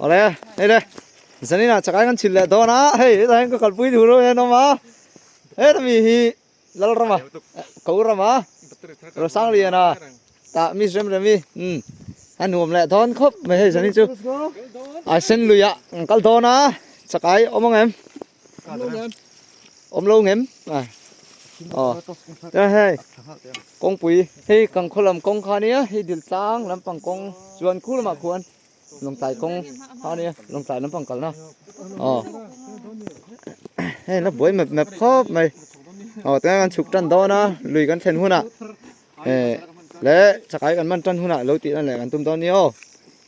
Ole, hei le. Zanina chakai kan chil leh dawn a. Hei, heta hian ka kalpui thu reuh hian awm a. Heta mi hi Lalrama, Kaurama, Rosangriana tah mi rem rem hi um a nuam leh dawn khawp mai hei zanin chu. Ai Senluia an kal dawn a, chakai awm ang em? Awm lo ngem a aw tia hei kawngpui hei kan khaw lam kawng kha nia hei dil tlang lampang kawng chuan khu lamah khuan lawngtlai kawng kha nia lawngtlai lampang kalna aw hei la buai map map khawp mai aw tia kan chhuk tan dawn a lui kan thlen hunah e leh chakai kan man tan hunah lo tihna leh kan tum dawn nia aw.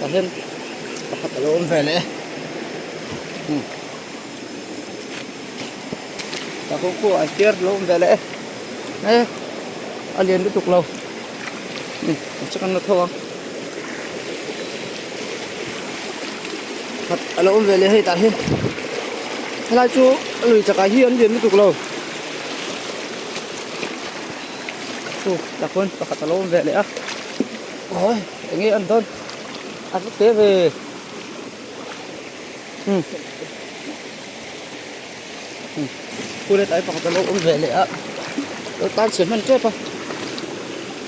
Ahem pakhat alo awm ve leh e tah khaw khaw an ker alo awm ve leh e a lian lutuk lo kan che kan la tho a khat alo awm ve leh e hetah hian helai chu a lui takah hi an lian lutuk lo oh tah khawn pakhat alo awm ve leh a. Enge an dawn a hla teh ve. Kulet ai pakhat a lo awm ve leh a, lo tan chhe hman tep a.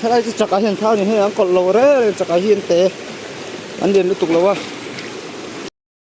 Helai chu chakah hian thla a ni hei ang kawlh lo rel reng chakah hian te an lian lutuk lo a.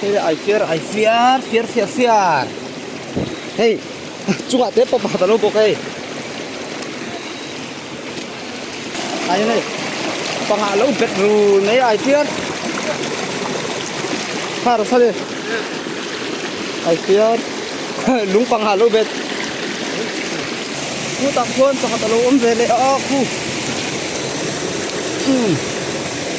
Hei ai fiar ai fiar fiar fiar fiar Hei chunga te pa pakhat alo bawk hei Ai hei panga lo bet ru mai ai fiar Har sa le ai fiar lung panga lo bet Khu tak chuan pakhat alo awm ve leh a khu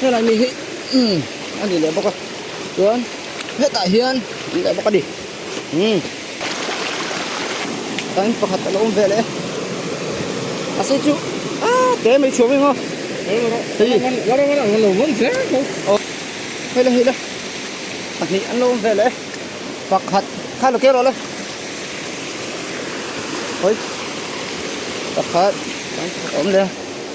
helai mi hi umm a ni leh bawk a chuan hetah hian a ni leh bawk a ni umm tah hian pakhat a lo awm ve leh a sei chu aaa te mai thup emaw hei la hei la pahnih an lo awm ve leh pakhat khai lo tir lohle hawi pakhat a awm leh a.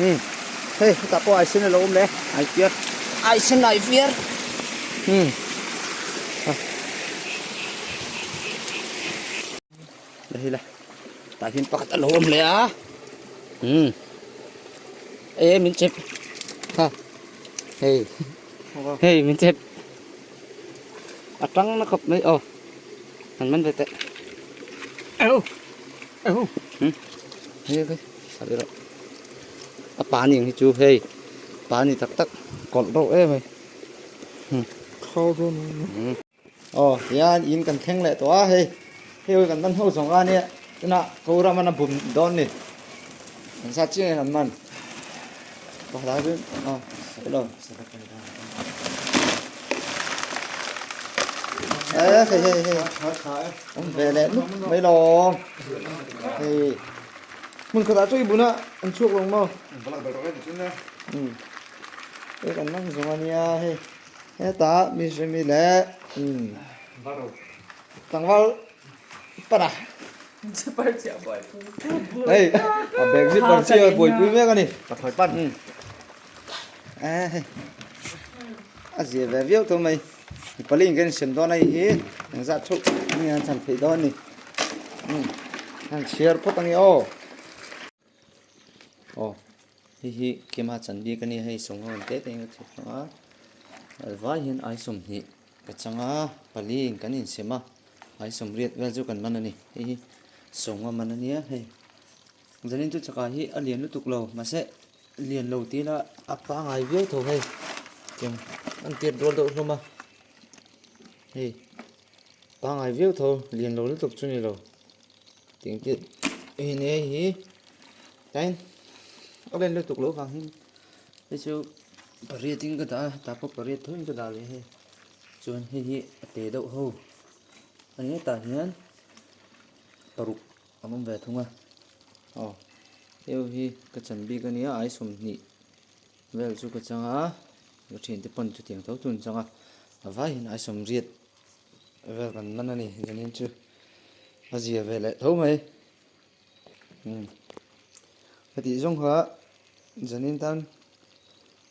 Umm hei hetah pawh aisen a lo awm le aifiar aisen aifiar umm ha la hi la tah hian pakhat a lo awm le a umm e min chep ha hei hei min chep a tang na khawp mai aw han man ve teh au au hei hei Sawi rawh. A pa ni ang hi chu hei. Pa ni tak tak. Kawlh reuh em mai. Hm. Kho reuh mai emaw. Hm. Aw tihian in kan thleng leh tawh a hei. Hei ho kan man ho zawng a nia. Tunah ko ram an bum dawn ni. Kan sa chiang em an man. Ka la chu aw sawi lo. Hei hei hei. Awm ve leh nup mai lo. Hei. Hmun khatah chu i bun a an chhuak lo maw? Ka lak ber tawh em tiin e. Umm. Pek an mang zawng a nia hei. Hetah mi hrimi leh umm. Varo. Tlangval para. Chipar chiah buaipui. Hei a bag hi par chiah buaipui mek a ni. Ka thawi pan. Umm. Ahh hei. A zir ve viau tho mai. Mi pali in kan insiam dawn a ni hi engzah thup nge an chhan theih dawn a ni hmm an chhiar phawt a ni aw aw hi hi kema chan bik a ni hei sawng ho an te te engzah thup chang a alvai hian ai sawm hnih ka changa pali in kan insiam a ai sawm riat vel chu kan man a ni hi hi sawng a man a nia hei Zanin chu chakah hi a lian lutuk lo, mahse lian lo tih ila a pangai viau tho hei. Eng an tir dual deuh hlawm a. Hei, pangai viau tho, lian lo lutuk chu ni lo. Tiang tih, hei nei a hi. Tain, a lian lutuk lo vangin hei chu pariatin ka dah a, tah pawh pariat thawhin ka dah leh hei. Chuan hei hi a pe deuh ho. A ni hetah hian paruk. Kan awm ve thung a. Aw, eo hi ka chan bik a nia, ai sawmhnih vel chu ka chang a, ka ṭhin te pawh ni chutiang tho tun chang a, a vaiin ai sawmriat vel kan man a ni, zanin chu a zia ve leh tho mai. Umm, ka tih zawng kha zanin tan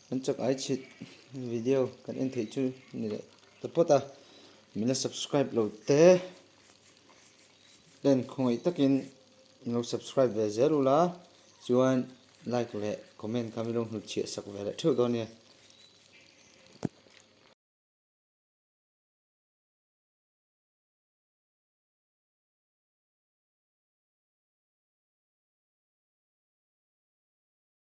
kan chak ai chhit video kan en theih chu ni leh ta pawt a, min la subscribe lo te. Len khawngaih takin min lo subscribe ve zel ula, chuan like leh comment kha min lo hnut chhiah sak ve leh theuh dawn nia.